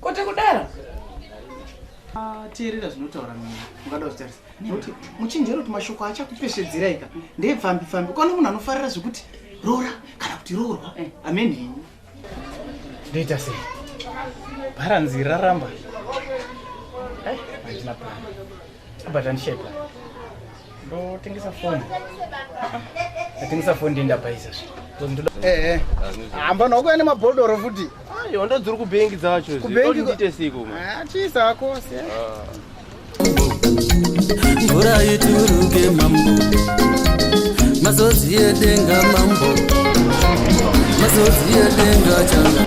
Kote kudara. Ah, teerera zvinotaura mimi ungada kutarisa nekuti muchinjero kuti mashoko achakupeshedzera ika ndepfambi pfambi kwana munhu anofarira zvekuti rora kana kuti roorwa eh. amen henyu ndoita sei bharanzi raramba eh, handina plan Abatani shape. Ndo tengesa phone. Atengesa phone ndienda paisa zvi. Eh eh. Amba noko ane mabhodoro futi. Ayo ndo dziri kubank dzacho zvi. Kubank ndite siku. Ah chisa wako se. Mvura ituruke mambo. Mazozi yedenga mambo. Mazozi yedenga changa.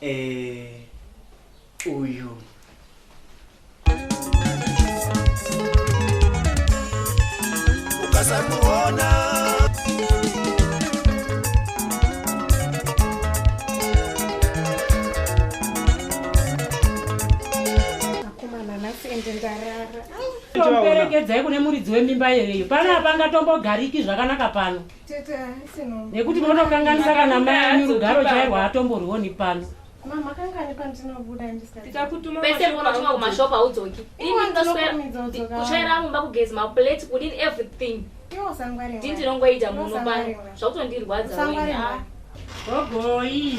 Eh, uyu. Ukasamuona. tomperekedzai kune muridzi wemimba yereyo pano hapangatombogariki zvakanaka pano nekuti motokanganisa kana mai anyu rugaro chairwo haatomborwoni pano pese munochima kumashop haudzoki kuchaira mumba kugezi maplate kudini everything ndinongoita muno pano zvakutondirwadza ah. gogoi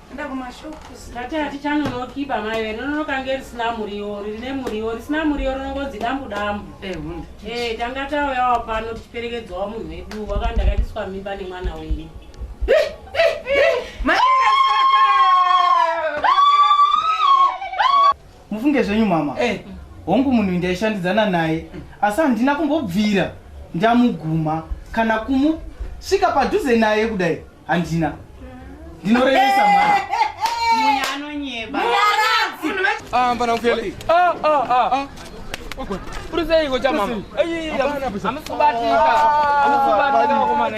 Enda kumashop. Tati hatichanonokiba mai vere rinokange risina muriwo riri nemuriwo risina muriwo rinongonzi dambu dambu. Eh hunde. Eh tanga tauyawo pano tichiperekedzwawo munhu wedu wakanda katiswa mimba nemwana wenyu. mufunge zvenyu mama hey. Eh. hongu munhu ndaishandidzana naye asi handina kumbobvira ndamuguma kana kumusvika padhuze naye kudai handina ndinorevesa mwana Ah, mbana mfeli. Ah, ah, ah. ah. Uruze iko cha mama. Ayi, amsubatika. Amsubatika kwa maana.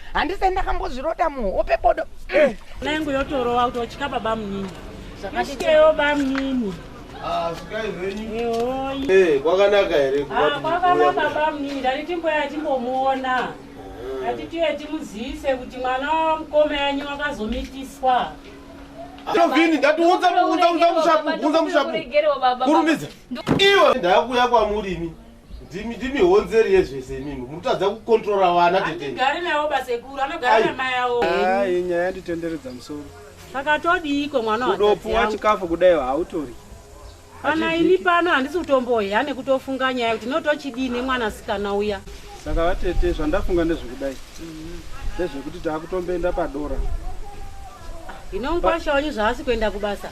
handisai ndakambozvirota muhope bodo eh. na yangu yotorowa kuti otya baba munini isikeyo bamunini ah, eh, kwakanaka here ah, kwakanaka baba munini ndati timboya timbomuona eh. ndati tiye timuziise kuti mwana wamukoma yanyu wakazomitiswa Tovini ndati unza unza unza mushapu unza mushapu. Kurumidza. Iwe ndakuya kwa murimi. ndimi ndimi honzeri yezvese imimi mutadza kukontrora vana tetegari navo basekuru anogara namai avo ai nyaya yanditenderedza musoro pakatodiiko mwana wadopuwa chikafu kudai hautori kana ini pano handisi kutombohya nekutofunga nyaya kuti notochidii nemwana sikana uya saka vatete zvandafunga ndezvekudai mhm. ndezvekuti taakutomboenda padora inonkwasha wanyu zvaasi kuenda kubasa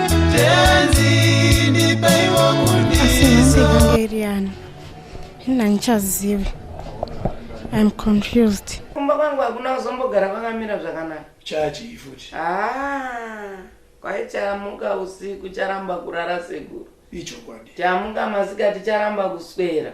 handichazivi im confused kumba kwangu hakuna kuzombogara kwakamira zvakanaka chachii futi ah, kwai chamuka usiku charamba kurara seguru ichokwadi chamuka masikati charamba kuswera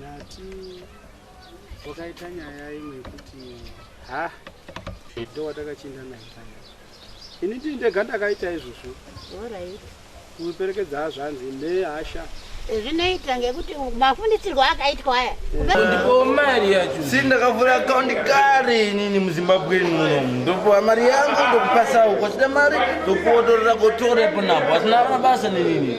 Nati wakaita nyaya imwe yekuti ha ndo watakachinda naye paya ini ndii ndega ndakaita izvozvo orit kuperekedza hazvanzi nehasha eh, zvinoita ngekuti mafundisirwo akaitwa aya eh. ndipo mari yacho si ndakavhura akaundi kare inini muzimbabwe muno ndopuwa mari yangu ndokupasawo kwachida mari ndokuotorera kotorepo napo asina mabasa nenini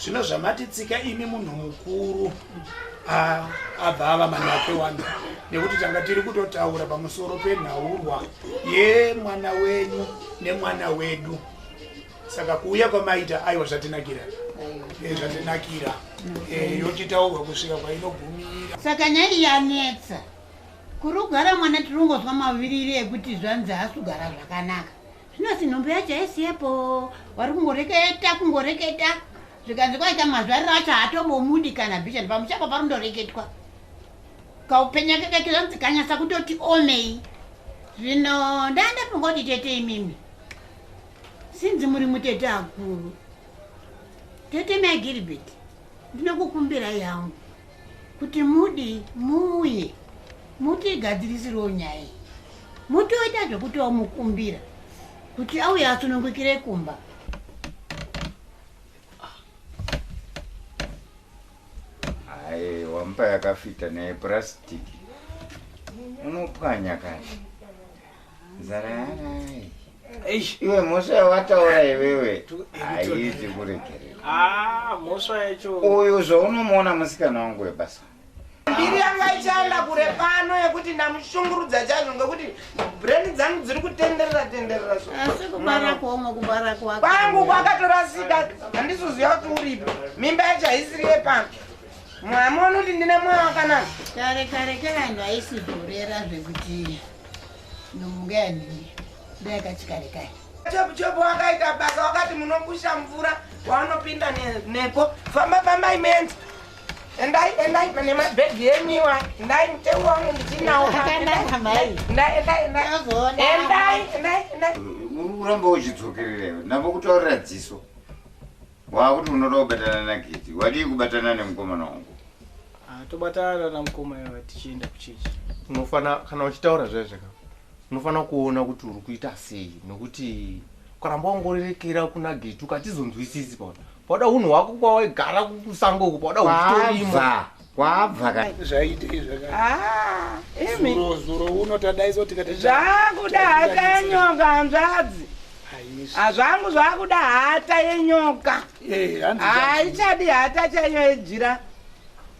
Zvino zvamati tsika imi munhu mukuru abva ava manakwe wani nekuti tanga tiri kutotaura pamusoro penhaurwa yemwana wenyu nemwana wedu saka kuuya kwamaita aiwa zvatinakira eh, zvatinakira eh, yochitaurwa kusvika kwainogumira saka nyaya iyi yanetsa kurugara mwana tiringozwa maviriri ekuti zvanzi hasugara zvakanaka Zvino sinhombo yacho haisi yepo, wari kungoreketa kungoreketa zvikanzi kwaita mazvariro acho haatomomudi kana bishani pamuchapa parindoreketwa kaupenya keke kizonzi kanyasa kutoti omei zvino ndaa ndafunga kuti tete imimi sinzi muri mutete akuru tete mai gilbert ndinokukumbirai yangu kuti mudi muuye mutigadzirisirwo nyaya iyi mutoita zvekuti wamukumbira kuti auye asunungukire kumba hayi wampa yakafita neyepurasitiki unopwanya kani iwe mhosva yawataura iwewe haizi kuregerera ah, uyu zvaunomuona musikana wangu webasa mbiri yanga ichaenda kure pano yekuti ndamushungurudza chaizvo ngekuti breni dzangu dziri kutenderera tenderera kwangu kwakatorasika handizoziva kuti uripo mimba yacho haisiri yepano mwamoni kuti ndine mwoyo wakanaka kare kare kare vanhu vaisibhorera zvekuti nomungaya nini ndayakachikare kai chepuchepu wakaita basa wakati munokusha mvura waunopinda nepo famba famba imenzi endai endai pane mabhegi yemiwa endai mutewu wangu ndichinawo uramba uchidzokerera iwe ndambo kutaurira dziso Wakuti unoda kubatana naGiti, wadii kubatana nemukomana wangu? Ah, tobatana namukoma iva tichienda kuchechi. Unofana kana uchitaura zvaye zvaka. Unofana kuona kuti uri kuita sei nokuti ukaramba ungorerekera kuna Giti ukatizonzwisisi paona. Pauda hunhu hwako kwawaigara kusango uko pauda huchitorima. Bva. Kwabva ka. Zvaitei zvakati. Ah, imi. Zuro zuro uno tadaiso tikati. Zvakuda hata yenyoka hanzvadzi. Hazvangu zvakuda hata yenyoka. Eh, hanzi. Haichadi hata chaiyo yejira.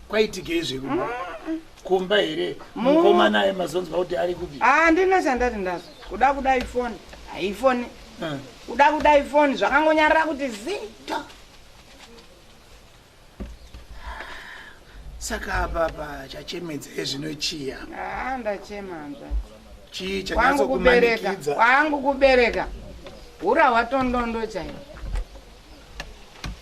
Kwaitikei zveku. Mm -mm. kumba here mukoma naye mazonzwa kuti ari kupi ah, ndine chandati ndazo kuda kuda ifoni haifoni eh. kuda kuda ifoni zvakangonyarira kuti zito saka apa apa chachemedza ezvino chiya haa ndachema hanzvati chii kwangu kubereka chanyatsokumanikidza kwangu kubereka hura hwatondondo chaiyo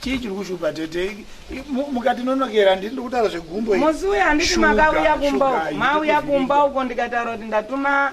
chii chiri kushupa tete I- mu- mukatinonokera ndiri ndikutaura zvegumbo iri. musi uya handiti Shuga, makauya kumba shuga, uko mauya handiti kumba uko ndikataura kuti ndatuma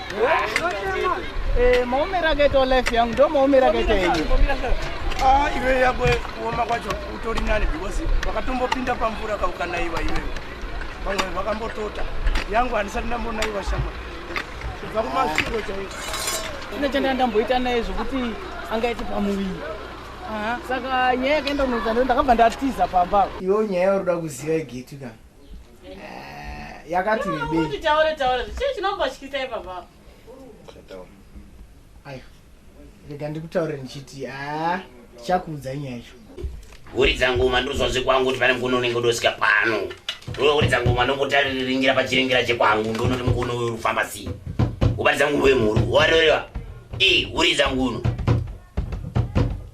Eh, maomero akaitawo life yangu ndo maomero akaita enyu ah, iwe yako kuoma kwacho utori nani because vakatombopinda pamvura kaukanaiwa iwewe vamwe vakambotota yangu handisati ndambonaiwa shama kubva kumasviro chaiko ine chandanga ndamboita naye zvokuti angaite pamuviri saka nyaya yakaenda kunoita ndo ndakabva ndatiza pamba iwo nyaya yauri kuda kuziva igetu kana Eh, yakati rebei taure taure chii chinombotyisa ipapa ayo rega ndikutaure ndichiti a chakuudza nyaya yacho huridza ngoma ndozwa zvekwangu kuti pane mukono unenge udosvika pano uridza ngoma ndombotariringira pachiringira chekwangu ndonoti mukono uyu urikufamba sei ubaridza nguno yemhuru warerewa i huridza nguno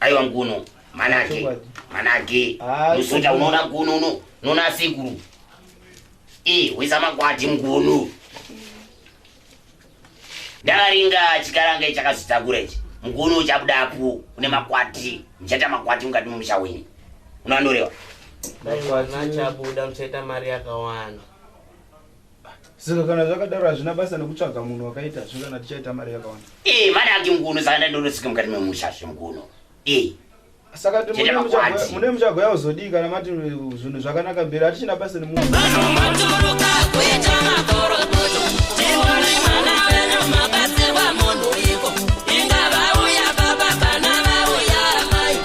aiwa nguno manage manage musoja unoona nguno uno unoona asekuru e wisa makwati nguno ndakaringa chikarange chakazotakura ichi nguno uchabudapo une makwati ndichaita makwati mukati momusha wenyu unoanorewa makwati achabuda muchaita mari yakawanda Saka kana zvakadaro hazvina basa nekutsvaga munhu wakaita zve kana tichaita mari yakawanda. Ee eh, mari yake mkuno saka ndandorosika mukati memusha zve mkuno. Ee. Eh. Saka mune muchagoya kuzodii kana mati zvinhu zvakanaka mberi hatichina basa nemunhu.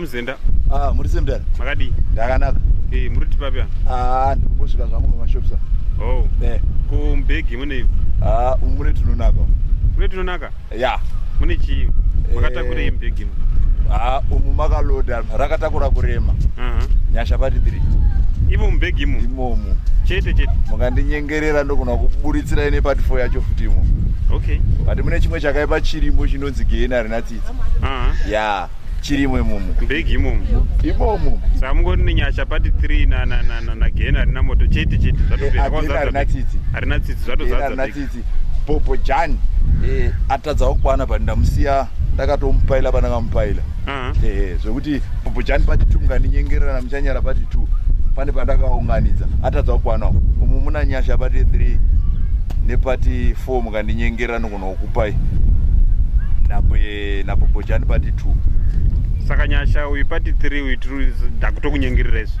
muzenda ah muri semdara makadii ndakanaka eh muri kuti papi ah ndikungosvika zvangu pamashops oh eh kumbegi mune ah mune tunonaka mune tunonaka ya mune chii makatakurei mbhegi eh, ha umu makaloda rakatakura kurema nyasha pati tiri imo mubhegi imo imomu chete chete mukandinyengerera ndogona kuburitsira ine pati fo yacho futi imo okay but mune chimwe chakaipa chirimo chinonzi geni harina tsitsi ya chirimo imomu mbhegi imomu imomu saka mungoti nenyasha pati three nageni harina moto chete chete zvatopeaharina tsitsi harina tsitsi zvatozaa bhobho jani eh, atadzawo kukwana but ndamusiya ndakatomupaila pandakamupaila mm. eh, zvekuti bhobho jani pati two mukandinyengerera namuchanyara pati two pane pandakaunganidza atadzawo kukwana umu muna nyasha pati three nepati four mukandinyengerera nokunokupai nabhobho jani pati two saka nyasha uyu pati three uyu ndakutokunyengerera izvo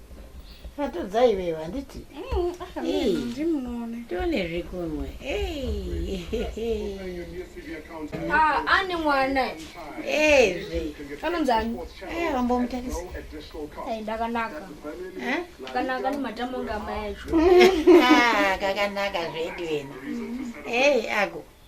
Atodza iwewe handiti? Mm, ah, Ndimuone. Tione zvekunwe. Ah, ane mwana. Ezve. Anonzi ani? Eh, vambomutarisa. Eh, ndakanaka. Eh? Ndakanaka ni matamo ngama yacho. Ah, kakanaka zvedu wena. Eh, ako.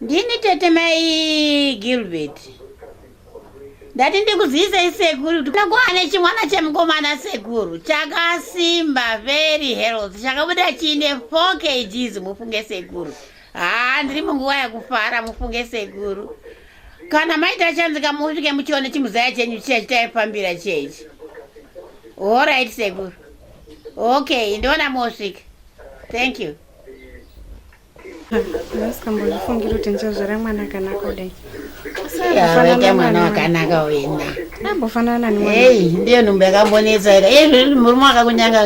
ndini tete mai gilbert ndati ndikuzivisei sekuru kuti ndakuwane chimwana chemukomana sekuru chakasimba very health chakabuda chiine four kgs mufunge sekuru haa ndiri munguva yekufara mufunge sekuru kana maita chanzika musvike muchione chimuzaya chenyu chiya chitaifambira chechi horit sekuru okay ndiona mosvika thank you ndasingambozvifungiri kuti ndichazvara mwana akanaka kudai avaita mwana wakanaka wena ambofanana nei ndiyo nhumbu yakambonetsa ika iye zviri murume wakakunyanga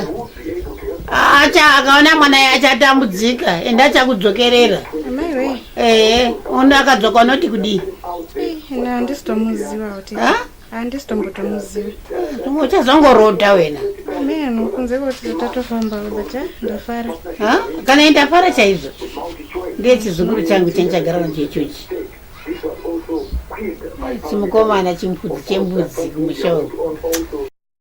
acha akaona mwana ye achatambudzika ende achakudzokerera ehe uno akadzoka unoti kudii handisitomuziva kuti handisi tombotomuzivi uchazongorodha wena meno kunze kuti tatofamba but eh, ndafara kana ndafara chaizvo ndiye chizukuru changu chandichagara nacho ichochi chimukomana chimpudzi chembudzi kumusha uku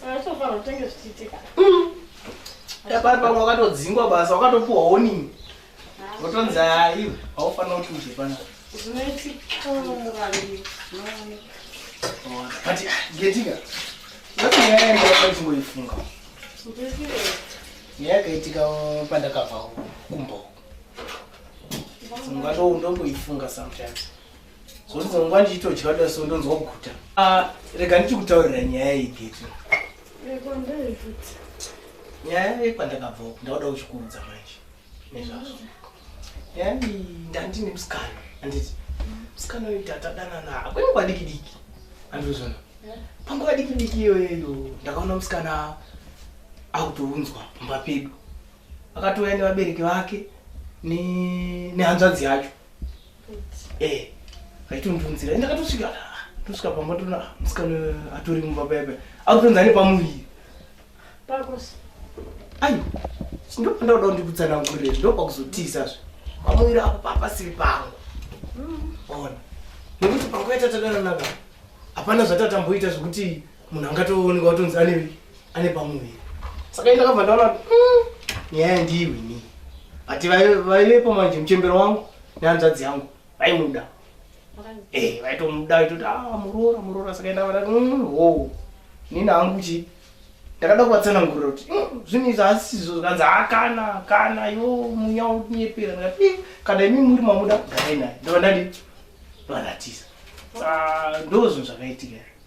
Saka utenge zvichiitika. Mm. Yabari pamwe wakatodzingwa basa wakatopuwa warning. Wotonzi hayi haufanira kuti uje pana. Zvinoitika murandi. But getika. Wati nyaya yangu wakanzongoifunga. Ndizire. Nyaya yakaitika pandakabva kumbo. Singatoundomboifunga sometimes. zvondizonguva ndichitodya da so ndonzwa kuguta ah, rega ndichikutaurira nyaya yegeti nyaya yekwandakabva uku ndauda uchikuudza manje nezvazvo nyaya ndandine musikana anditi musikana uyu tatadanana akwene kwadiki diki andizvona panguva diki diki iyoyeyo ndakaona musikana akutounzwa pamba pedu akatouya nevabereki vake nehanzvadzi yacho eh aitondunzira ndakatosvika tosvika pamba tona musikana atori mumba paya paya akutonzi ane pamuviri ayi ndopandauda kundikutsanangurire ndopakuzotiisazve pamuviri apo papasiri pangu mm. ona nekuti panguva yatatadananaka hapana zvatatamboita zvekuti munhu angatooneka kutonzi ane ane pamuviri saka enda kabva ndaona mm, nyaya yandiiwi ni but vaivepo manje muchembero wangu nehanzvadzi yangu vaimuda eh, vaitomuda vaitoti a ah, muroora muroora saka enda vada mm, wo nini hangu chii ndakada kuvatsanangurira kuti mm, zvinhu izvi hasisizo zvikanzi hakana ah, kana yo munya unyepera ndikati eh, kana imi muri mamuda garai naye ndovandandi varatisa ah, ndozvinhu zvakaitika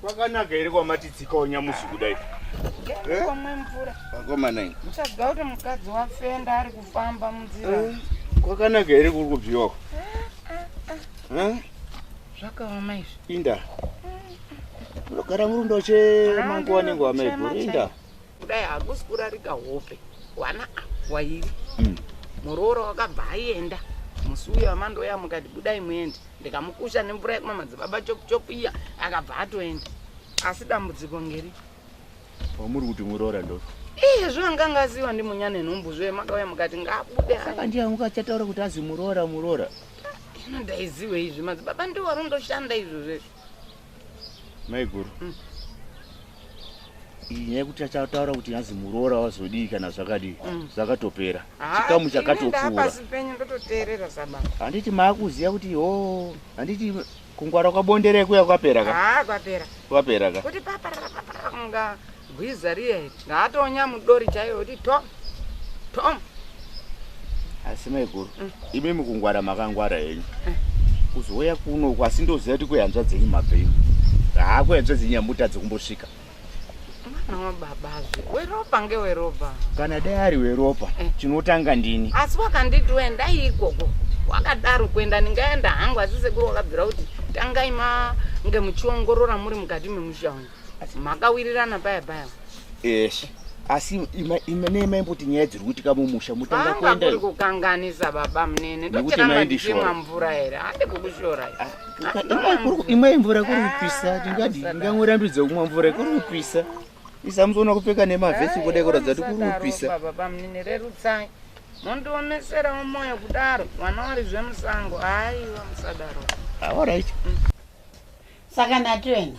Kwakanaka here kwamati tsikawo nyamusi kudai? Komwe eh? mvura. Vakomana ini. Muchaziva kuti mukadzi wafenda ari kufamba munzira. Eh, kwakanaka here kuri kubviwa? Eh, Zvakaoma izvi. Inda. Ndogara murundo che manguwa nenguwa maiguru. Inda. kudai hakusi kurarika hope wana wairi mm. muroora wakabva aenda musi uya wamandoya mukati budai muende ndikamukusha nemvura yekumwa madzibaba chopuchopu iya akabva atoenda asi dambudziko ngeri wamuri kuti muroora ndo iye zvanga ngaziwa ndi munyana enhumbu zvoye makauya mukati ngabude saka ndiye angu achataura kuti azi muroora muroora ino ndaiziwe izvi madzibaba ndiwo arondoshanda izvo zvesvo maiguru mm. nyaya yekuti achataura kuti yanzi muroora wazodii kana zvakadii mm. zvakatopera mm. chikamu chakatopfuura handiti maakuziva kuti o oh, handiti kungwara kwabonderekuya kwapera ka kwapera ka kuti paparara paparara kunga Gwiza riya iti ngaatonya mudori chaiyo kuti tom tom. Asi maiguru mm. imi mukungwara makangwara henyu mm. kuzouya kuno uku asi ndoziva kuti kuyanzva dzenyu mabveyo haa kuyanzva dzenyu yamuta dzekumbosvika mwana wababazve weropa ngeweropa kana dai ari weropa eh. chinotanga ndini asi wakanditi uendai ikoko wakadaro kuenda ndingaenda hangu asi sekuru wakabvira kuti tangai mange muchiongorora muri mukati memusha wangu makawirirana paya paya yes asi nemaimboti nyaya dziri kuitika mumusha mutanga kuenda kuri kukanganisa baba munene tochiramba tichimwa mvura here hande kukushora ah, imwe mvura kuri kupisa tingadi ndingangorambidzo kumwa mvura kuri kupisa isamuzoona kupfeka nemavhesi kuda kuratidza kuti kuri kupisa baba munene rerutsai mondioneserawo moyo kudaro vana wari zvemusango haiwa musadaro awaraiti mm. saka natoena